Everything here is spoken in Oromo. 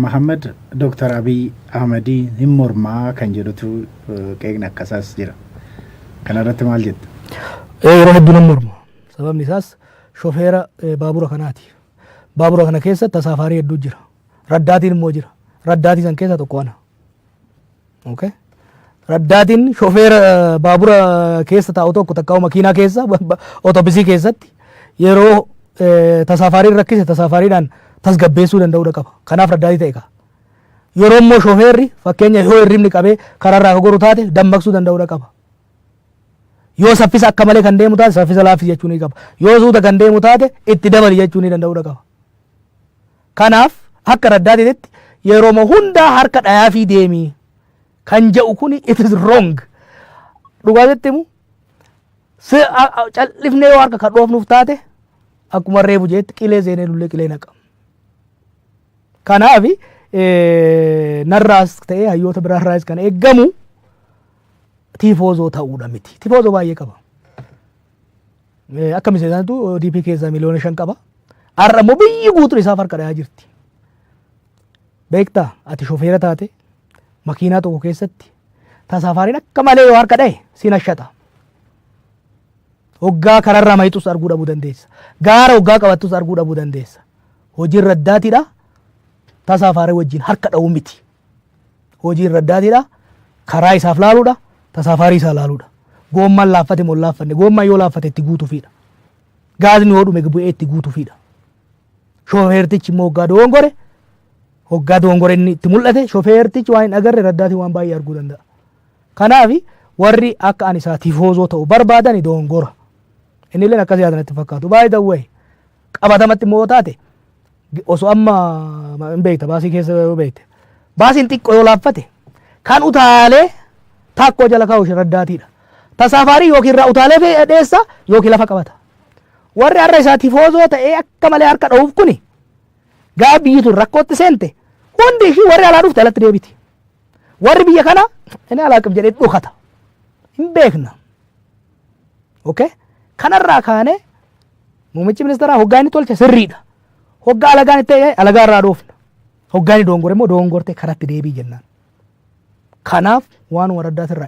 Mahaammad Dooktar Abiy Ahmadii hin mormaa kan jedhutu qeeqni akkasaas jira. Kana irratti maal jetta? Yeroo hedduu nan morma. Sababni isaas shofeera baabura kanaati. Baabura kana keessa tasaafaarii hedduu jira. Raddaatiin immoo jira. Raddaatii san keessaa tokko ana. Okay. Raddaatiin shofeera eh, baabura keessa taa'u tokko takka makiinaa keessa ba- ba- otobisii keessatti yeroo eh, tasaafaariin rakkise tasaafaariidhaan tasgabbeessuu danda'uudha qaba. Kanaaf raddaatii ta'e qaba. Yeroo immoo shofeerri fakkeenya yoo hirribni qabee karaarraa akka goru taate dammaqsuu danda'uudha qaba. Yoo saffisa akka malee kan deemu taate saffisa laaffisi jechuu ni qaba. Yoo suuta kan deemu taate itti dabali jechuu ni danda'uudha qaba. Kanaaf akka Raddaatitti yerooma hundaa harka dhayaafii deemi kan jedhu kun it is wrong. Dhugaa sitti himu si a- a- cal'ifnee yoo harka kan dhoofnuuf taate akkuma reebu jeetti qilee seenee lullee qilee naqa. Kanaaf eh, narraas ta'ee hayyoota biraarraas kan eeggamu tiifoozoo ta'uudha miti. Tiifoozoo baay'ee qaba. Akka miseensaatu ODP keessaa miliyoona shan qaba. Har'a immoo biyyi guutuun isaaf harka dhayaa jirti. Beektaa ati shofeera taate makiinaa tokko keessatti tasaafaariin akka malee yoo harka dhaye siin ashata. Hoggaa kararraa mayitus arguu dhabuu dandeessa. Gaara hoggaa qabattus arguu dhabuu dandeessa. Hojiin raddaatiidha. Tasaafaarii wajjin harka dha'uu miti. Hojiin raddaatiidha. Karaa isaaf laaluudha. Tasaafaarii isaa laaluudha. Goommaan laaffate moo hin laaffanne? Goommaan yoo laaffate itti guutufiidha. Gaazni yoo dhume bu'ee itti guutufiidha. Shofeertichi immoo hoggaa dogongore hoggaa dogongore inni itti mul'ate shofeertichi waan hin agarre raddaatiin waan baay'ee arguu danda'a. Kanaaf warri akka ani isaa tifoozoo ta'u barbaadani dogongora. Inni illee akkas yaadan itti fakkaatu. By the way qabatamatti immoo yoo taate osoo amma ma- hin beekta baasii keessa yoo beekte baasiin xiqqoo yoo laaffate kan utaalee taakkoo jala kaa'u shiraddaatiidha. Ta saafaarii yookiin irraa utaalee fi dheessa yookiin lafa qabata. Warri har'a isaa tifoozoo ta'ee akka malee harka dha'uuf kuni gaafa biyyi tun rakkootti seente hundi ishii warri alaa dhufte alatti deebiti. Warri biyya kana inni alaa qab jedhee dhokata. Hin beekna. Okay? Kanarraa kaanee muummichi ministeeraa hoggaa inni tolche sirriidha. Hoggaa alagaan itti ta'e alagaa irraa dhoofna. Hoggaa inni doongore immoo doongortee karatti deebii jennaan. Kanaaf waan waraddaa sirraa